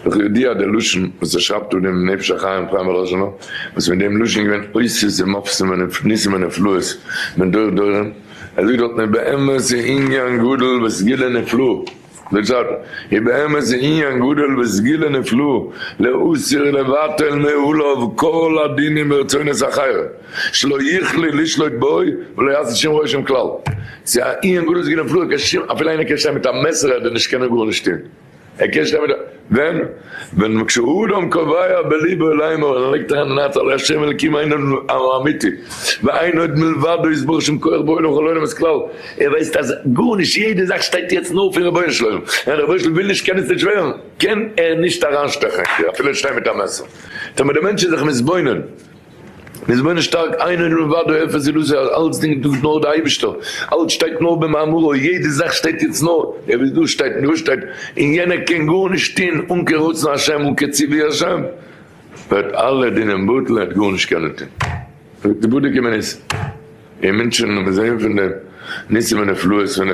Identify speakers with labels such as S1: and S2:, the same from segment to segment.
S1: איך יודע אז דער לשון וואס ער שרייבט דא דעם נפש החיים חיים בראשונה, וואס מיט דעם לשון איז געווען אותות ומופתים וניסים ונפלאות מדור דורים, ער זאגט דארט מען באמת א ענין גדול וסגולה נפלאה, דער צד איז באמת א ענין גדול וסגולה נפלאה להסיר לבטל מעליו כל הדינים ורצונות אחרים שלא יכלו לשלוט בו ולא יעשה שום רושם כלל, ס'איז א ענין גדול וסגולה נפלאה, אפילו איינער קען שטיין מיט א מעסער ער וועט נישט קענען גארנישט טוהן. ער קען שטיין מיט וועם? ווען מ כשהאדם קובע בליבו לאמור ער לייגט אריין אין הארץ אל ה' אלקים אין און אמיתי ואין עוד מלבדו איז בור שום כח בעולם וכל עולם איז כלל ער ווייסט אז גארנישט יעדע זאך שטייט יעצט נאר פון רבונו של עולם און רבונו של עולם וויל נישט קען עס נישט ווערן קען ער נישט אריינשטעכן אפילו ער שטיין מיט א מעסער טאמער די מענטש איז זיך מתבונן איז מונה שטארק איין און לבדו אפס און לוזי אז אלץ דינגט דא נאר די אייבישטער אלץ שטייט נאר במאמרו יעדע זאך שטייט יעצט נאר ער איז דא שטייט דא שטייט און יענער קען גארנישט טוהן אן קיין רצון השם אן קיין ציווי השם וועט אלע דינים בטל ער העט גארנישט קענען טוהן וועט די בודק אים ניס און מונטשען און מיר זעהן פון די ניסים ונפלאות פון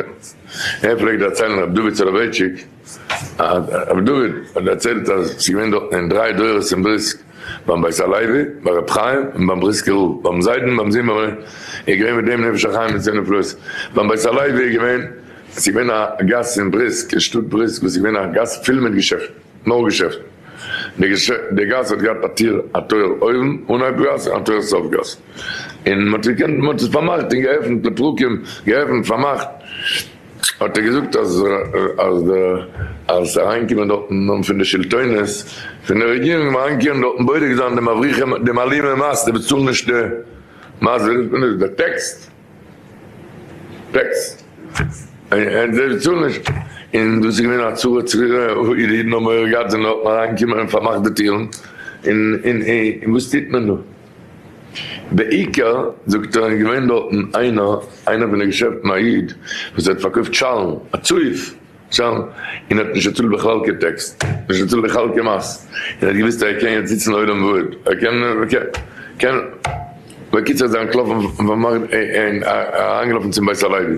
S1: ער פלעגט דערציילן ר' דוד סולובייטשיק. רבי דוד האט דערציילט אז ס'איז געווען דארטן אין דריי דורות אין בריסק ביים בית הלוי ביי רבי חיים און ביים בריסקער רב ביים זיידן ביים זומער איז געווען מיט דעם נפש החיים מיט זיינע נפלאות ביים בית הלוי איז געווען עס איז געווען א גאס אין בריסק אין שטאט בריסק וואס איז געווען א גאס פול מיט געשעפטן נאר געשעפטן די גאס האט געהאט א טיר א טויער אויבן אנהייב גאס און א טויער סוף גאס און מ'האט געקענט מ'האט עס פארמאכט און געעפנט לפרקים געעפנט פארמאכט. האט ער געזאגט אז אריינקומען דארט אין נאמען פון די שלטונות פון די רעגירונג ווען אריינקערן דארט בודק זיין די מבריחים די מעלימי מס די באצאלן נישט די מס ווי רופט מען דאס די טעקס טעקס און זיי צאלן נישט און דאס איז געווען א צרה צרורה אוי די אידן האבן מורא געהאט זענען דארט אריינגעקומען און פארמאכט די טירן און וואס טוט מען דא. בעיקר, זאגט ער, איז געווען דארטן איינער, איינער פון די געשעפטן, א איד וואס האט פארקויפט שאלן, א צויף שאלן, און האט נישט געצאלט בכלל קיין טעקס, נישט געצאלט די חלקי מס, און האט געוואוסט אז ער קען יעצט זיצן לעולם ועד, ער קען, קען, בקיצור איז ער אנטלאפן, אריינגעלאפן צום בית הלוי.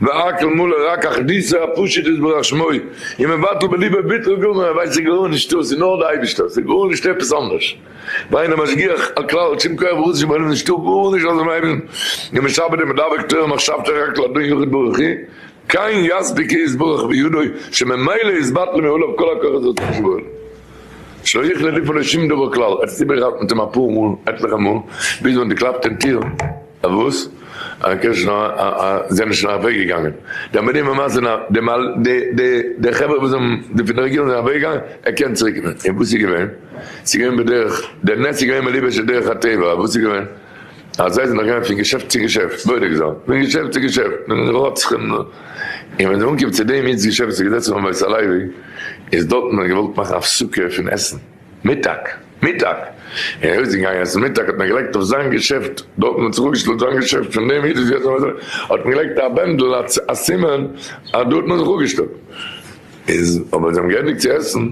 S1: והכל מלא רק אחדותו הפשוט יתברך שמו, און מבטל בליבו ביטול גמור, ער ווייסט ס'גארנישט דאס און נאר די אייבישטער, ס'גארנישט עפעס אנדערש, ואין המשגיח על כלל על שום כח וחוש שבעולם נישטא גארנישט אויסער דעם אייבישטן, און משעבד און מדבק תורה מחשבתו רק לאדון יחיד ברוך הוא, כן יספיק יתברך בידו, שממילא יתבטלו מאליו כל הכוחות של צורת שבעולם, שלא יכלה ליפול לשום דבר כלל, עטס איבערגעהאלטן מיט אים אפאר מאל, עטליכע מאל, ביז ווען די קלאפט אין טיר. וואס? א קען נישט נאר א א זיי זענען שוין אוועק געגאנגען די אמערים ממש זענען א די מל די די די חברה וואס האבן די פון די רעגירונג זענען אוועק געגאנגען ער קען צוריק ווען און וואס איז געווען ס'איז געווען בדרך די נס איז געווען מלבוש על דרך הטבע וואס איז געווען אז זיי זענען געגאנגען פון געשעפט צו געשעפט בודק זיין פון געשעפט צו געשעפט און רוצחים און ווען זיי אנקומען צו דעם איד'ס געשעפט וואס איז געזעצן פארן בית הלוי איז דארטן האט מען געוואלט מאכן הפסקה פון עסן מיטאג, מיטאג, ער איז אויסגעגאנגען עסן מיטאג האט מען געלייגט אויף זיין געשעפט, דארטן האט זיך אפגעשטעלט זיין געשעפט, פון דעם איד איז יעצט אויף אזוי, האט מען געלייגט א בענדל א סימן אז דארטן האט זיך אפגעשטעלט, איז אויב זיי האבן געענדיגט צו עסן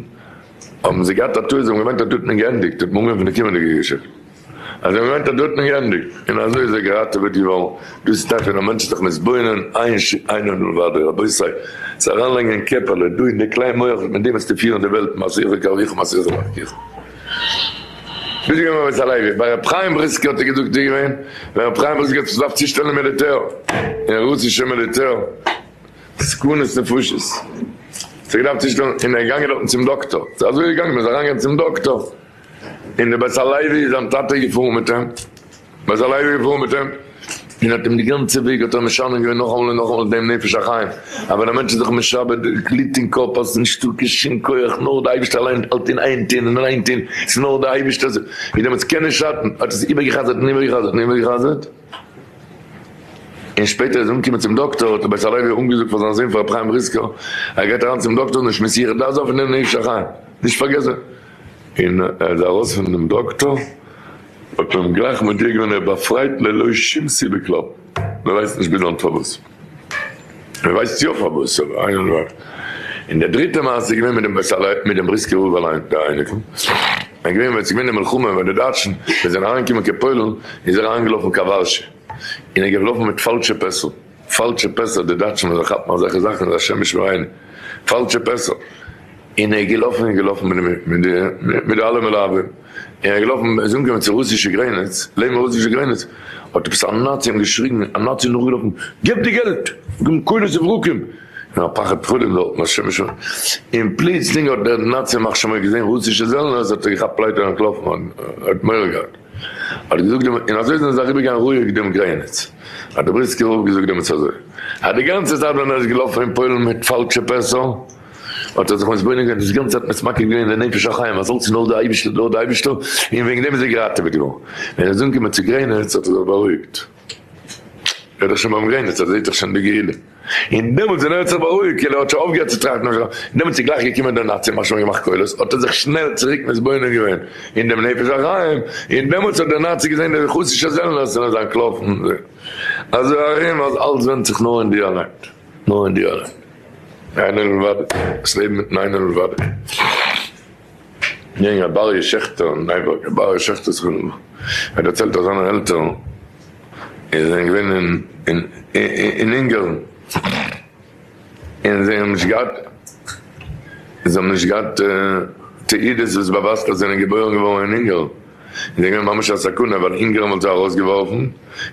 S1: האבן זיי געהאט א טעות, זיי האבן געמיינט אז דארטן איז געענדיגט, האט מען אנגעהויבן פון די קומענדיגע געשעפט. אז ער מיינט אז דא האט מען געענדיגט און אזוי איז ער געראטעוועט געווארן, דאס איז טאקע נאר מענטשן זיך מתבונן, עיין ש ע ענין בן ודו, רבותי, צו אריינלייגן אין קעפעלע דא אין די קליין מח וואס מיט דעם וועסטו פירן די וועלט מסעיך וקרביך מסעיך ומרחיקיך. ביסט געווען בבית הלוי? ביי ר' חיים בריסקער האט ער געזאגט איז געווען ווען ר' חיים בריסקער האט זיך געדארפט צושטעלן אין מיליטער, אין רוסישע מיליטער, סכנות נפשות האט זיך געדארפט צושטעלן און ער איז געגאנגען דארטן צום דאקטאר, אזוי איז ער געגאנגען מען איז אריינגעגאנגען צום דאקטאר, און דער בית הלוי איז זיין טאטע געפארן מיט אים, בית הלוי איז געפארן מיט אים, און האט אים די גאנצע וועג האט ער משנה געווען נאכאמאל און נאכאמאל דעם נפש החיים, א ווען א מענטש איז זיך משעבד, דו גליט אין קאפ, האסט נישטא קיין שום כח, נאר די אייבערשטער אליין האלט אין איין טון און אליין טון, ס'איז נאר די אייבערשטער, ווי דעמאלטס קען נישט שאטן, האט עס איבערגע'חזר'ט און איבערגע'חזר'ט און איבערגע'חזר'ט, און שפעטער איז אנגעקומען צום דאקטאר, האט דער בית הלוי אנגעזאגט פאר זיין זון פאר רבי חיים בריסקער, ער גייט אריין צום דאקטאר, נישט מסיח דעת זיין פון דעם נפש החיים, נישט פארגעסן. און ער איז ארויס פון דעם דאקטאר האט מען אים גלייך מודיע געווען ער איז באפרייט ללא שום סיבה כלל, מען ווייסט נישט ביז היינט פארוואס, מען ווייסט יא פארוואס אבער איינער נאר איך. און די דריטע מעשה איז געווען מיט דעם בעש ט אליין מיט דעם בריסקער רב אליין דער אייניקל, ער איז געווען ווען עס איז געווען די מלחמה ווען די דייטשן ווען זיי זענען אריינגעקומען קיין פוילן איז ער אריינגעלאפן קיין ווארשע און ער איז געלאפן מיט פאלשע פעסל, פאלשע פעסער, די דייטשן ווען זיי כאפן אזעלכע זאכן איז השם ישמור עיני, פאלשע פעסער, און ער איז געלאפן און געלאפן מיט די מיט די אלע מלווים, און ער איז געלאפן ער איז אנגעקומען צו רוסישע גרעניץ, לעבן רוסישע גרעניץ האט עפעס א נאצי אים געשריגן, א נאצי איז נאכגעלאפן, געב די געלט! געבן קולות וברקים, און א פחד פחדים דארטן, השם ישמור, און פלוצלינג האט דער נאצי מחשמל געזען רוסישע זעלנערס האט ער געכאפט לייטער און אנטלאפן, ער האט מורא געהאט. האט געזאגט דעם און אזוי זענען זיי אריבער געגאנגען רואיג דעם גרעניץ האט דער בריסקער רב געזאגט דעם עצה אזוי אז די גאנצע צייט ווען ער איז געלאפן אין פוילן מיט פאלשע פעסער האט ער זיך מתבונן געווען דאס גאנצע צייט מתמקד געווען אין נפש החיים אז אלץ איז נאר דער אייבישטער נאר דער אייבישטער און וועגן דעם איז ער געראטעוועט געווארן ווען ער איז אנגעקומען צו גרעניץ האט ער זיך בארואיגט. ער איז דאך שוין ביים גרעניץ, ער זעהט דאך שוין די געהילע. און דעמאלטס ווען ער האט זיך בארואיגט, כאילו ער האט שוין אויפגעהערט צו טראכטן אויף זיך, דעמאלטס איז גלייך געקומען די נאציען, מ'האט שוין געמאכט קולות, האט ער זיך שנעל צוריק מתבונן געווען אין דעם נפש החיים, און דעמאלטס האט דער נאצי געזעהן די חסישע זעלנערס און אזאנס קלאפן זיך אזוי ארום אז אלץ ווענדט זיך נאר אין דיר אליין, נאר אין דיר אליין. איינער לבדו, דאס לעבן מיטן איינער לבדו. יענגער באריס שעכטער אין ניי יארק, א באריס שעכטער סכנא, האט דערציילט אז זיינע עלטערן זענען געווען אין אונגארן און זיי האבן נישט געהאט זיי האבן נישט געהאט תעודות וואס באווייזט אז זיי זענען געבוירן געווארן אין אונגארן און זיי זענען געווען ממש א סכנה ווייל אונגארן וואלט זיי ארויסגעווארפן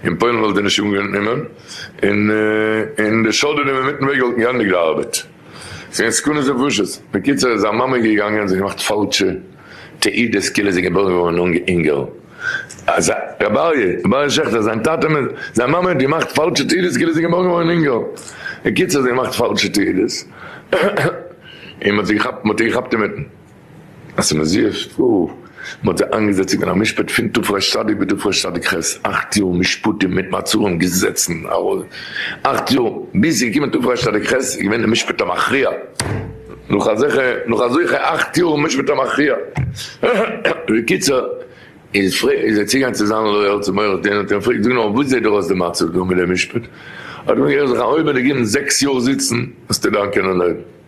S1: און פוילן וואלט זיי נישט אנגענומען און די שולדערן אינמיטן וועג וואלטן געענדיגט די ארבעט. זיין סכנה איז פשוט. בקיצור איז זיין מאמע געגאנגען און זיך געמאכט פאלשע תעודות כאילו זי איז געבוירן געווארן אן אינגעל. אז רבי אריה, רבי אריה שעכטער, זיין טאטע, זיין מאמע האט געמאכט פאלשע תעודות כאילו זי איז געבוירן געווארן אן אינגעל. בקיצור זי האט געמאכט פאלשע תעודות און מען האט זי געכאפט, מען האט איר געכאפט אינמיטן. אז ס'איז מזיע שטראף, מען האט זיי איינגעזעצט צו גיין א משפט פון תפרש צדיק ותפרש צדיק ח, אכט יאר משפטים מיט מעצרים געזעצן אכט יאר, ביז ס'איז געקומען תפרש צדיק ח איז געווען די משפט המכריע, נאך אזעלכע נאך אזעלכע אכט יאר משפט המכריע, בקיצור איז פרע איז ער צוגעגאנגען צו זיין לויער צום עורך דין האט אים געפרעגט זאג נאר וואס זעט דיר אויס די מצב דא מיט די משפט, האט ער אים געזאגט אויב מען וועט דיר גיבן זעקס יאר זיצן וועסטו דאן קענען לעבן.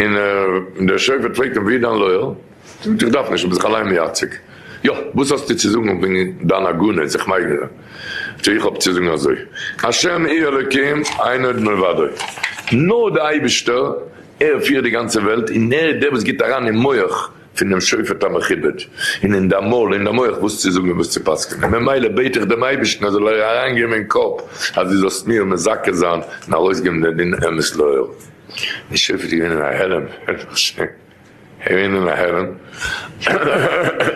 S1: און דער שופט פרעגט אים, ווי איז דיין לויער? זאגט איך דארף נישט, איך בין זיך אליין מייצג. יא, וואס האסטו צו זאגן וועגן דיין עגונה, זיך מייגרע? זאגט ער, איך האב צו זאגן אזוי, השם היא אלוקים אין עוד מלבדו, נאר דער אייבישטער, ער פירט די גאנצע וועלט, און ער איז דער וואס גיט אריין אין מח פון דעם שופט המכובד, און אין דיין מויל, אין דיין מח, וואס צו זאגן און וואס צו פסק'נען, ממילא בעט איך דעם אייבישטן ער זאל דיר אריינגעבן אין קאפ אז דו זאלסט מיר מזכה זיין און ארויסגעבן דעם דין אמת לאור. די שריפט איז געווען אין א הערעם, געווען אין א הערעם,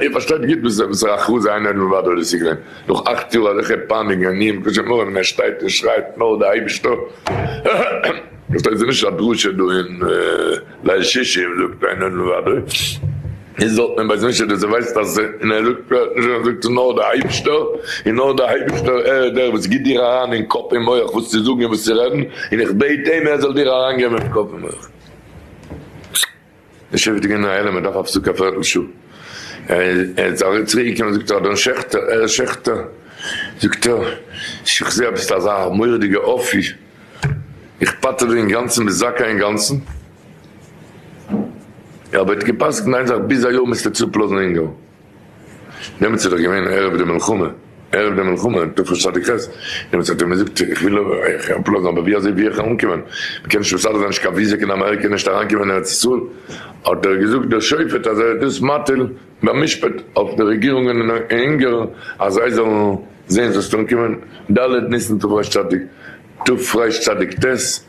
S1: איר פארשטייט גוט וואס וואסערע הכרזה איינער האט מבטל דאס איז געווען, נאך אכט יאר אזעלכע פייניגן און איום קשה מרה ווען ער שטייט און שרייט נאר די אייבישטער, פארשטייט זיך נישט א דרשה דא אין ליל שישי און זאגט איינער מבטל. איז זאלט מען ביי זיך נישט רעדן, זיי ווייסט אז אין א זאגט פרעהט נישט און ער זאגט עס נאר דער אייבישטער, און נאר דער אייבישטער ער איז דער וואס גיט דיר אריין אין קאפ און מח וואס צו זאגן און וואס צו רעדן, און איך בעט אים ער זאל דיר אריין געבן אין קאפ און מח. די שופט איז געווען אין א הלם ער דארף א פסק א פערטל שעה, ער איז ארויס צוריק געקומען זאגט ער אדון שעכטער ער איז שעכטער זאגט ער איך זעה אז ביסט אזא מורא'דיגע אפי' איך פטר דיר אינגאנצן ביסט זכאי אינגאנצן. יא אבער ער האט געפסקנט איין זאך ביז א יאר מוזטו צופלאזן אונגארן דעמאלטס איז דאך געווען ערב די מלחמה ערב די מלחמה תרפ ד כז דעמאלטס האט ער מיר זאגט איך וויל אייך אפלאזן אבער ווי אזוי ווי איך אנקומען מ'קען נישט מסדר זיין נישט קיין וויזע קיין אמעריקע נישט אריינקומען ארץ ישראל האט ער געזאגט דער שופט אז ער איז דאס מטיל במשפט אויף די רעגירונגען אין אונגארן אז זיי זאלן זעהן זאלסט אנקומען ד' ניסן תרפ ד.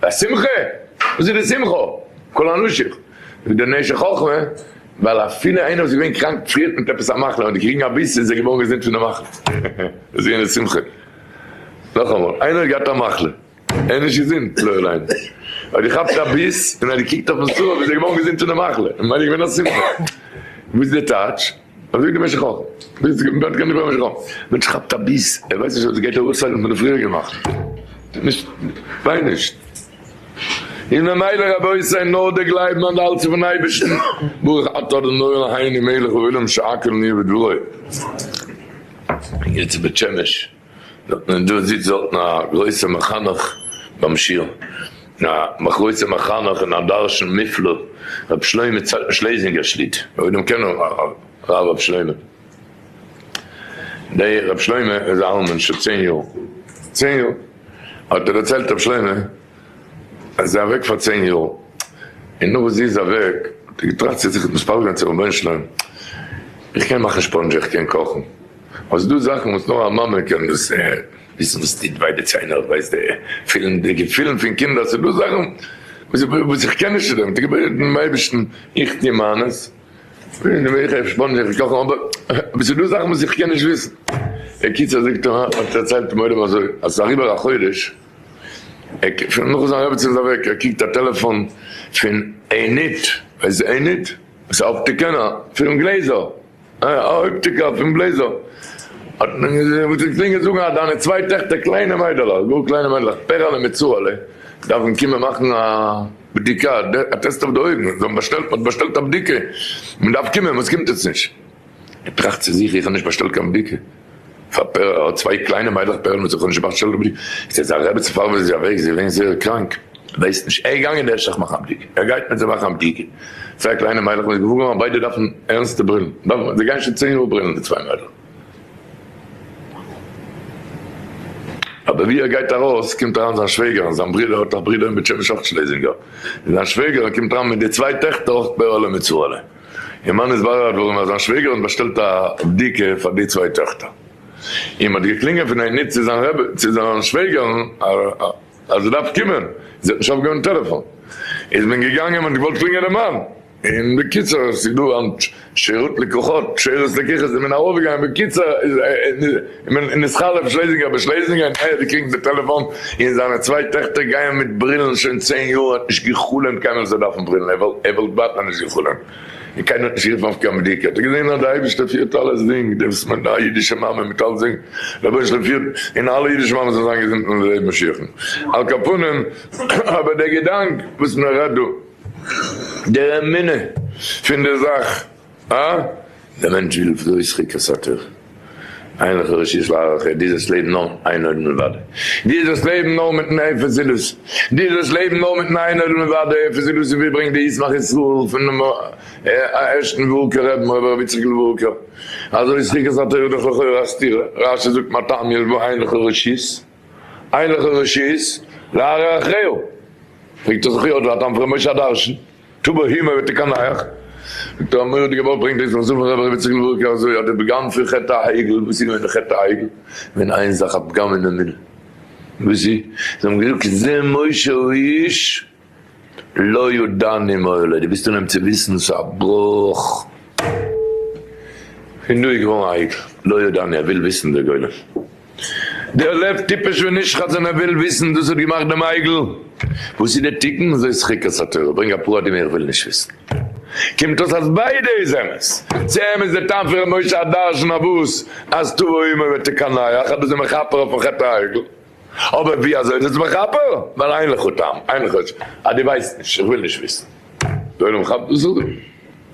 S1: א שמחה? וואס איז די שמחה? כל אנשיך ווי די נשי חכמה, ווייל אפילו איינער וואס איז געווען קראנק פריערט מיט עפעס א מחלה און די קריגן א ביס איז ער געווארן געזונט פון די מחלה, דאס איז יענער'ס שמחה. נאכאמאל, איינער האט געהאט א מחלה, ער איז נישט געזונט לא עלינו, האט געכאפט א ביס און האט געקוקט אויפן סרט איז ער געווארן געזונט פון די מחלה, ממילא איז געווען א שמחה. וואס איז די טייטש? אזוי במשך א ביז די וועלט גענדיגט במשך א ווען ס'כאפט א ביס ער ווייסט נישט אז עס גייט ארויספאלן פון די פריעריגע נאכט נישט וויין נישט איז ממילא רבותי נאר די גלייבן און די האלטן פון אייבערשטן ברוך אתה אדוני אלהינו מלך העולם שהכל נהיה בדברו יעצט בית שמש. זאגט מען דא זיצט דארטן א גרויסע מחנך ביים שיעור, א גרויסע מחנך און א דרשן מופלא, רבי שלמה צדקן שלעזינגער שליט א, אויב דעם קען הרב רבי שלמה, דער רבי שלמה איז א אלמן שוין צען יאר, צען יאר האט ער דערציילט רבי שלמה אז ער אוועק פאר צען יאר, און נאך וואס זי איז אוועק האט ער געטראכט צו זיך מתפלל זיין צו רבונו של עולם איך קען מאכן ספאנדזש איך קען קאכן. אבער ס'דא זאכן וואס נאר א מאמע קען דאס וויסן וואס טוט וויי די ציינער, ווייסט די פילן די געפילן פון קינדער, ס'דא זאכן וואס איך קען נישט צו דעם, געבעט דעם אייבערשטן איך טו מיינס, אבער ס'דא זאכן וואס איך קען נישט וויסן, בקיצור זאגט ער האט דערציילט דעם עולם אזוי אז ס'איז אריבער א חודש נאך זיין רעבעצין איז אוועק, ער קוקט א טעלעפאן פון עינית, ווייסט די עינית? ס'אפטיקען, א פירם גלעזער. א הויפטיקער פון בלעזער האט מען געזעהן וואס איז געקלינגען זאגן אז דיינע צוויי טעכטער קליינע מיידלעך גאר קליינע מיידלעך פערעלע מיט צורה'לע דארפן קומען מאכן א בדיקה א טעסט אויף די אויגן זיי האבן באשטעלט מ'האט באשטעלט א בדיקה מען דארף קומען וואס קומט עטס נישט? ער טראכט צו זיך איך האב נישט באשטעלט קיין בדיקה. פאר פערל האט צוויי קליינע מיידלעך פערל מיט זכרון שבת שלום איז יעצט א רעבעצן פארוואס איז זי אוועק זי איז געווען זייער קראנק ווייסט נישט ער איז געגאנגען דער שכח מאכן א בדיקה ער גייט מיט זיי מאכן א בדיקה צוויי קליינע מיידלעך מ'איז געוואר געווארן אז ביידע דארפן ערנסטע ברילן דארפן זיי גייען שוין צען יאר ברילן די צוויי מיידלעך. אבער ווי ער גייט ארויס קומט אריין זיין שוועגער און זיין ברודער האט א ברודער אין בעטשעמעש אויך שלעזינגער און זיין שוועגער קומט אריין מיט די צוויי טעכטער אויך פערל און מיט סרולע. און מאן איז בארערט ווארום אז זיין שוועגער האט באשטעלט א בדיקה פאר די צוויי טעכטער, און מען האט געקלינגען פון עיני צו זיין רעבע צו זיין שוועגער'ן אז ער דארף קומען, און זי האט נישט אויפגעהויבן טעלעפאן, איז מען געגאנגען און מען האט געוואלט קלינגען די מאן, און בקיצור עס איז דא היינט שירות לקוחות, שירות לקוחות איז מען ארויפגעגאנגען, בקיצור איז. און איז חלף שלעזינגער ביי שלעזינגער און איה די קרינגט די טעלעפאן און זיינע צוויי טעכטער גייען מיט ברילן שוין צען יאר ער האט נישט געחלומט קיינמאל אז זיי דארפן ברילן ער וואלט ב ה נישט געחלומט און קיינער האט נישט גערופן אויף קיין בדיקה האט ער געזען אז די אייבישטער פירט אלעס זינג דעם סמ ד א אידישע מאמע מיט אלס זינג רבונו של עולם פירט און אלע אידישע מאמעס זאלן זיין געזונט און לעבן משיח'ן על כפנים אבער דער געדאנק וואס מען רעדט דא דער אמונה פון די זאך. אה? דער מענטש וויל בלויז חוקת התורה. אין לך רשות להאריך אויף דיזעס לעבן נאר איין עולם לבדו. דיזעס לעבן נאר מיטן עפר זילות. דיזעס לעבן נאר מיטן איין עולם לבדו עפר זילות ווי ברענגט די ישמח ישראל פונעם ערשטן וואורקער רב מוה ר רבי יצחק לוואורקער. אזוי איז חוקת התורה דאך לכאורה א סתירה. רש י זאגט מה טעם יש בו אין לך רשות אין לך רשות להאריך אויף. פרעגט ער זיך יא דא א טעם פון ר' משה הדרשן. טא בהמה וועט ער קיין נייעך. און טא מורא'דיגע ווארט ברענגט אויס דער חזון פון רבי ר' איציק לווארקער אזוי אז די פגם פון חטא העגל, וואס איז געווען די חטא העגל? געווען איין זאך א פגם אין אמונה. וואס איז? זיי האבן געזאגט זה משה הוא איש לא ידעני מה עולה, דו ביסט אן אים צו וויסן, ס'איז א בראך. פון דא איז געווארן א העגל, לא ידעני, ער וויל וויסן דער גולם. דער לב טיפש ווען נישט חזן ער וויל וויסן דאס האט געמאכט דעם עגל וואס איז די תיקון אזוי שחיקת התורה ברענג א פרטים איך וויל נישט וויסן קומט אויס אז ביידע איז אמת צו אמת די טעם פון ר' משה א דרשן אויף וואס אז תבא אומה ותקנח אז דאס איז מכפר אויפן חטא העגל אבער ווי אזוי איז עס מכפר ווייל אין לך טעם אין לך אז די ווייסט נישט איך וויל נישט וויסן די עולם כאפט דאס אן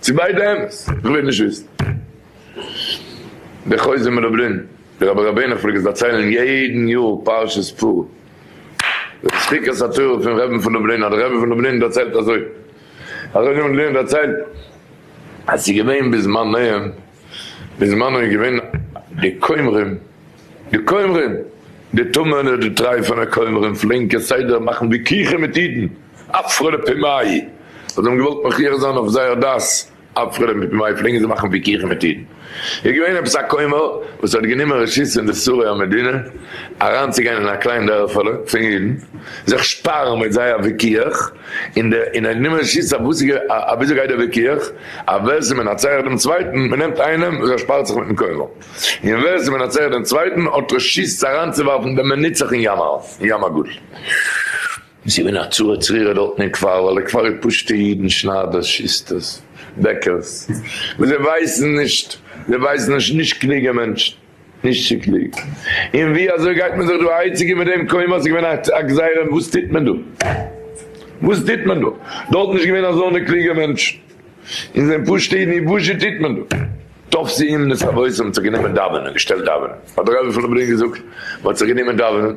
S1: צו ביידע אמת איך וויל נישט וויסן די חוזר מדוברין. דער אבא רבינו פלעגט עס דערציילן יעדן יאר פרשת פרו. די דחיקת התורה פון רעבען פון לובלין אז דער רבי פון לובלין דערציילט אזוי, אז רבי פון לובלין דערציילט אז ס'איז געווען בזמנם, בזמנו איז געווען די כומרים, די כומרים, די טמא'נע די טרייפענע כומרים פלעגן כסדר מאכן וויכוחים מיט אידן, אפרו לפי מאי, אז זיי האבן געוואלט מכריח זיין אויף זייער דת. אפרים מיט מויד פלעגן זיי מאכן וויכוחים מיט אידן. איז געווען עפעס א כומר וואס האט גענומען רשות אין די שרי המדינה אריינצוגיין אין א קליין דערפעלע פון אידן, זיך שפארן מיט זיי א וויכוח, און דער און ער האט גענומען רשות אויף וואס אוויאזוי גייט דער וויכוח, אויף ווער עס איז מנצח דעם צווייטן, מען נעמט איינעם וואס ער שפארט זיך מיטן כומר, און ווער עס איז מנצח דעם צווייטן האט רשות אריינצוווארפן דעם מנצח אין ים הגדול. זי איז מן הצורה צרורה דארטן אין כפר, ווייל די כפר איז פשוט'ע אידן, שניידערס, שוסטערס, בעקערס, וואס זיי ווייסן נישט, זיי ווייסן נישט, נישט קלוגע מענטשן, נישט צו קלוג, און ווי אזוי גייט מען זיך דא אהייציקען מיט דעם קוים אז עס איז געווען א גזירה און וואס טוט מען דא, וואס טוט מען דא, דארט איז נישט געווען אזוינע קלוגע מענטשן, און זענען פשוט'ע אידן, און וואזשע טוט מען דא? טוב סי' אומנות אבות האבן זיך גענומען דאווענען, געשטעלט דאווענען, האט דער רבי פון לובלין געזאגט, מען האט זיך גענומען דאווענען.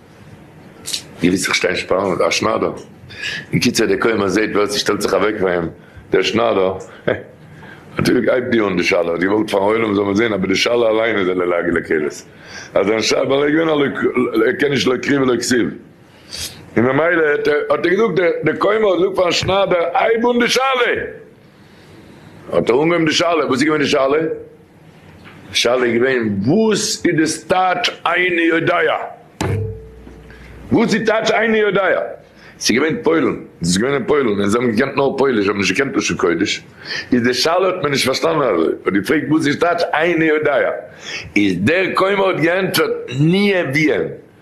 S1: געוויסע שטיין שפאלן מיט א שנאדער, אין קיצור דער כומר זעהט ווער ס'שטעלט זיך אוועק פאר אים דער שנאדער, נאטורליך הייבט די אן די שאלה, האט געוואלט פארן עולם זאל מען זעהן, אבער די שאלה אליין איז א לעג לקלס, אז זיין ש ווייל ער איז געווען א לוי ער קען נישט לא קריא ולא כסיל, און ממילא האט ער געזאגט דער כומר זאגט פארן שנאדער הייב אן די שאלה, האט ער אנגעהויבן די שאלה, וואס איז געווען די שאלה? די שאלה איז געווען וואס איז די סטייטש איני יודע? וואס איז טייטש איני יודע? ס'איז געווען פוילן, דאס איז געווען אין פוילן און זיי האבן געקענט נאר פויליש, זיי האבן נישט געקענט לשון קודש, איז די שאלה האט מען נישט פארשטאנען אזוי, האט געפרעגט וואס איז טייטש איני יודע? איז דער כומר האט געענטפערט ניע וויען.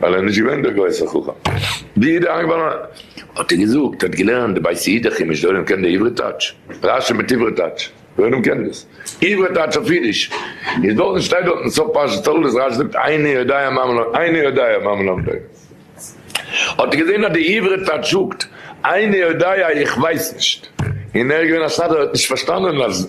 S1: ווייל ער איז נישט געווען דער גרויסער חכם. די איד איז איינגעפאלן, האט ער געזאגט, ער האט געלערנט די בית היד הכי מש ד, אויב קען דער עברי טייטש, רשי מיט עברי טייטש, ווער איינעם קען דאס עברי טייטש אויף אידיש, איז דארטן שטייט דארטן סוף פרשת תולדות, רשי זאגט איני יודע מה מלמדו, איני יודע מה מלמדו, האט ער געזען אז די עברי טייטש זאגט איני יודע איך ווייס נישט, און ער איז געווען א סאטמארער ער האט נישט פארשטאנען אז.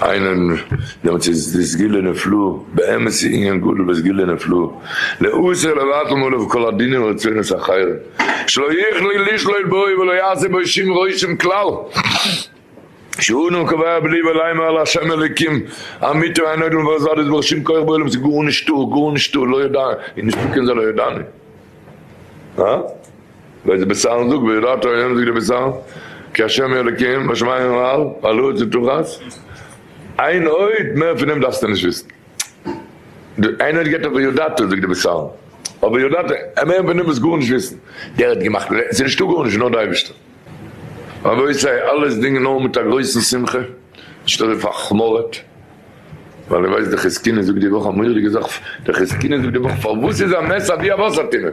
S1: עיין דעם צו איז דאס גילו נפלא, באמת איז ענין גדול וואס גילו נפלא לאוסר לבטל מעליו כל הדינים ורצונות אחרים שלא יכלו לשלוט בו ולא יעשה בו שום רושם כלל שהוא נאר קובע בלי ולאמר לה' אלוקים אמיתי ואין עוד מלבדו זולת ברוך שום כח בעולם ס'איז גארנישטא גארנישטא לא ידענו און נישטא קען זיין לא ידענו. ר' זעבעסאל זאגט ויראת ה' זאגט ר' זעבעסאל כי השם אלוקים בשמים ומעל ועל הארץ לא תחת איין אות מער פון דעם דארפסטו נישט וויסן די איין אות געבט ער וידעת זאגט ר' זעבעסאל אבער וידעת מער פון דעם וואס גארנישט וויסן דער האט געמאכט און ס'איז נישטא גארנישט נאר די אייבערשטער. רבותי אלעס דינג נאר מיט א גרויסן שמחה נישט אזוי פאר'חמור'עט ווייל איר ווייסט די חזקוני זאגט די וואך א מורא'דיגע זאך די חזקוני זאגט די וואך פארוואס איז א מעשה אבי א וואסער טונעל?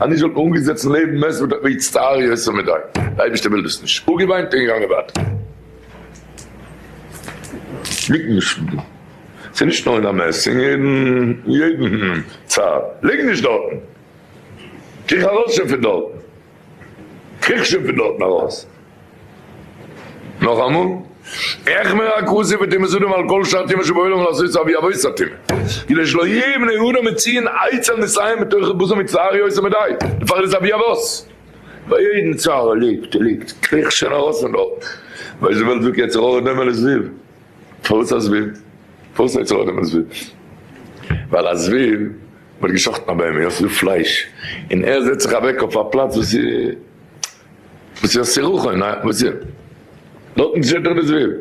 S1: אז נישט וואלט מען אנגעזעצן לעבן מען וואלט ער מצטער יותר מדי, די אייבערשטער וויל דאס נישט, אפגעוויינט און געגאנגען ווייטער. ליגט נישט דא, ס'איז נישט נאר אין א מעסס, אין יעדן יעדן צד, ליג נישט דארטן, קריך ארויס שוין פון דארטן, קריך שוין פון דארטן ארויס. נאכאמאל, עכ מ רק עשה וטמא זאדם על כל שאר טומאה שבעולם לעשות אבי אבות הטומאה, כדי שלא יהיו בני אדם מציין עצל מסיים בתוכי בזו מצער יוצא מדי, דפאר איז אבי אבות. ביי יעדן צער ער ליגט ער ליגט, קריכט שוין ארויס פון דארט, ווייל די וועלט זאגט יצר הרע דומה לזבוב, פארוואס א זבוב? פארוואס יצר הרע דומה לזבוב? ווייל א זבוב ווערט געשאכטן א בהמה, יא ס'איז דא פלייש, און ער זעצט זיך אוועק אויף א פלאץ וואס איז. וואס איז א סירחון? א וואס איז? דארטן שטייט דאך די זוויל.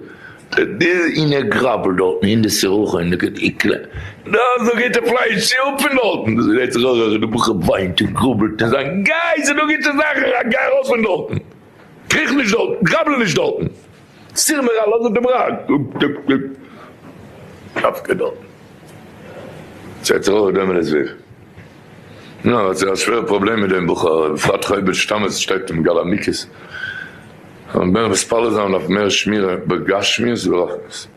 S1: די אינער גראבל דארטן אין די סירחון די גוט איקלע דא איז דא גוטע פלייש צי אפ פון דארטן דאס גרייט זיך אויך די בחור וויינט און גראבלט און זיין גיי ס'איז דא גוטע זאכן גיי ארויס פון דארטן קריך נישט דארטן גראבל נישט דארטן. סיר מיר א לאנדע דעם ראג. דוק דוק דוק קאפקע דארט. ס'הערט זיך אויך דעם הסבר. נו, האט זי א שווערע פראבלעם מיט דעם בחור, בפרט חובת שתמות שטייט אום גל המיקות. זאל מען בענך מתפלל זיין אויף מער שמירה בגשמיות וברחמיות.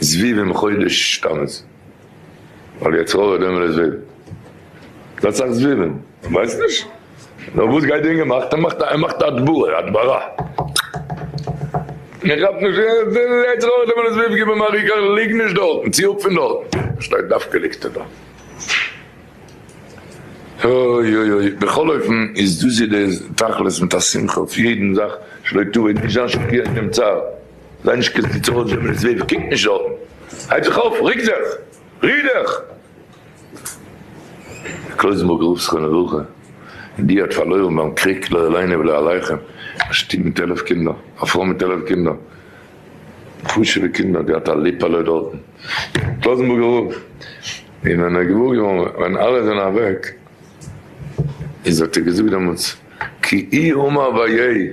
S1: זבוב אום חודש תמוז, ווייל יצר הרע דעם ווער עס וויל איז א סאך זבובים, כ'ווייס נישט נאר וואס גייט די אינגער מאכט ער מאכט ער מאכט הדברה הדברה און ער כאפט נישט וויל יצר הרע דעם ווער עס וויל גיב אים א ריק אריין ליג נישט דארטן צי אפ פון דארטן פארשטייט דווקא ליגסט דא אוי אוי אוי בכל אופן איז דאס איז די תכלית מיט א שמחה אויף יעדן זאך שלא תעוה נישט זיין שפירן דעם צער. זיי נישט קיין קיצור אויס וועמען עס ווערט, קוק נישט דארטן, הייב זיך אויף, רוק זיך, ריר דיך! דער קלויזנבורגער רב זכרונו לברכה און די האט פארלוירן ביים קריג, לא עלינו ולא עליכם, א שטוב מיט עלף קינדער, א פרוי מיט עלף קינדער, חשובע קינדער, געהאט א ליפעלע דארטן, קלויזנבורגער רב, און ווען ער איז געוואר געווארן ווען אלע זענען אוועק, איז האט ער געזאגט דעמאלטס, כי אי הומא ואיי.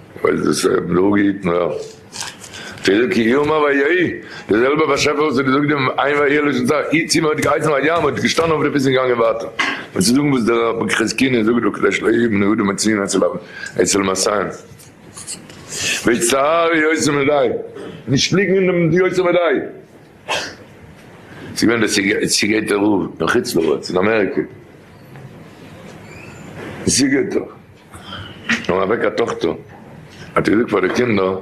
S1: ווייל דאס רב דא גייט נאר פירוק יומא ויהי, די זעלבע באשעפער וואס האט געזאגט דעם עיין ואהיה לשון זר, אי צי מען האט געהייסן א ים האט געשטאנען אויף די פיס און געגאנגען ווייטער, און צו זאגן וואס דער רב מ'קרעסקינע זאגט דא כדי שלא יהיו בני אדם מצויין אצל אב אצל מסיים ויצטער יוצא מידי, נישט ליגן אין דעם יוצא מידי. ס'איז געווען דער סיגע סיגעיטער רב אין חוץ לארץ אין אמעריקע, סיגעיטער. נעם אוועק א טאכטער האט ער געזאגט פאר די קינדער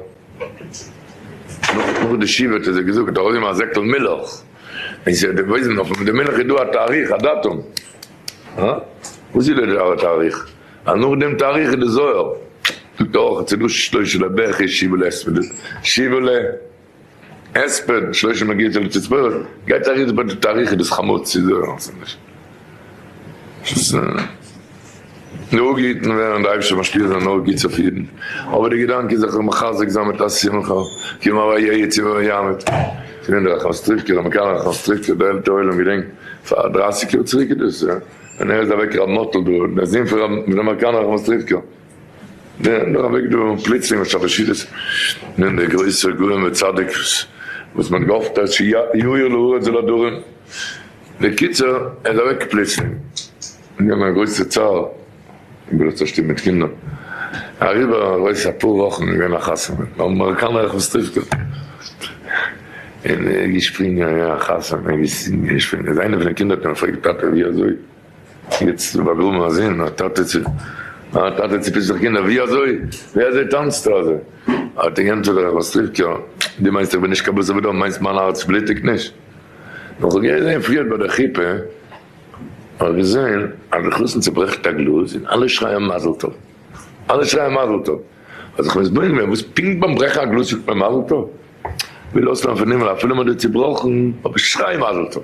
S1: נאך די שבעה האט ער זיי געזאגט ארויס געבן א זעקל מילך און זיי האט דערוויזן אויפן די מילך איז דא א תאריך א דאטום הא וואס איז דאס א תאריך אז נאך דעם תאריך איז די זוהר זאגט ער אויך עס איז דא שלושה לבכי שבעה לעשרה שבעה ל. הספד שלושה מגיטה לתספורת, גייט ארויס ביי די תאריך איז עס חמור צו זאגן אז ס'איז נישט נהוג געהיטן ווערן די אייבישטער משפיע זיין אויף גוט צו פירן, אבער די געדאנק איז זיך מחזק זיין מיט א שמחה כי מה והיה יצא ומה יאבד, ס'געווען דא א קאנסטרוקטער א מקאנער קאנסטרוקטער די עלטערע עולם געדענקט פאר דרייסיג יאר צוריק איז דאס ווען ער איז אוועק ר' מאטל דרור דער זון פון ר' מאיר קאנער קאנסטרוקטער. נאך א וועג דא פלוצלינג האט זיך בשליטת נ ד דער גרויסער גאון וצדיק וואס מען האט געהאפט אז שיאיר לאור אצל הדורים, בקיצור ער איז אוועק פלוצלינג און געווען א גרויסע צער איבער דאס צושטופן מיט קינדער, אריבער ארויס אפאר וואכן איז געווען א חתונה און האבן אמעריקאנער איך ווס טריפט ער און ער איז געשפרינגען א חתונה איז איינע פון די קינדער האט אים געפרעגט טאטע ווי אזוי. יעצט איז באגראבן א זון, א טאטע צו א טאטע צופישט זיך קינדער, ווי אזוי ווי אזוי טאנצטו אזוי? האט אים געענטפערט דער רחבסטריווקער, דו מיינסט איך בין נישט קיין בשר ודם, מיינסט מיין הארץ בלוטיגט נישט? נאך איך געזעהן פריערט ביי דער חופה, האב איך געזעהן אז די חתן צוברעכט א גלאז און אלע שרייען מזל טוב, אלע שרייען מזל טוב, האב זיך מתבונן געווען וואס פונקט ביים ברעכן א גלאז זאגט מען מזל טוב? וויל אויסלערנען פון הימל אפילו מען האט דיר צובראכן אבער שריי מזל טוב!